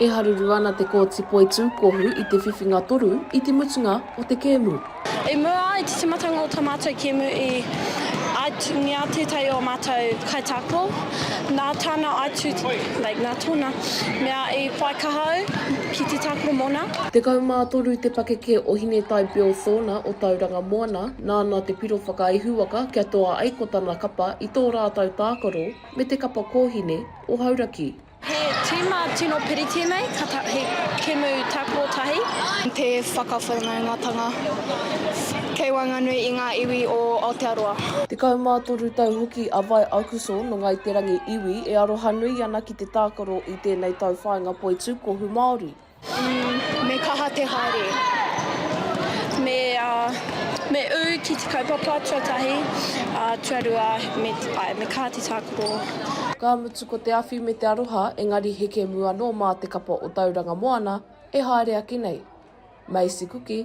E haruru ana te Kōti Poitūkohu i te whiwhinga toru i te mutunga o te kēmu. I mua ai te timatanga o tā mātou kēmu i aituungia tētahi o mātou kaitākaro, nā tāna aitu, nā tōna mea i whai kaha au ki te tākaro mōna. Tekau mā toru te pakeke o Hinetai Bill Thorner o Tauranga Moana. Nāna te piro whakaihuwaka kia toa ai ko tana kapa i tō rātau tākaro me te kapa kōhine o Hauraki. He tīma tino piri tēnei, ka ta, he kemu tākaro tahi. Te whakawhanaungatanga kei waenganui i ngā iwi o Aotearoa. Tekau mā toru tau hoki a Vai Aukosor nō Ngāi Te Rangi iwi e arohanui ana ki te tākaro i tēnei tau whāinga poitūkohu Māori. Me kaha te haere. Me, me ū ki te kaupapa tuatahi, tuarua, me, āe, me kaha te tākaro. Ka mutu ko te awhi me te aroha engari he kemu anō mā te kapa o Tauranga Moana e haere ake nei. Maisi Kuki.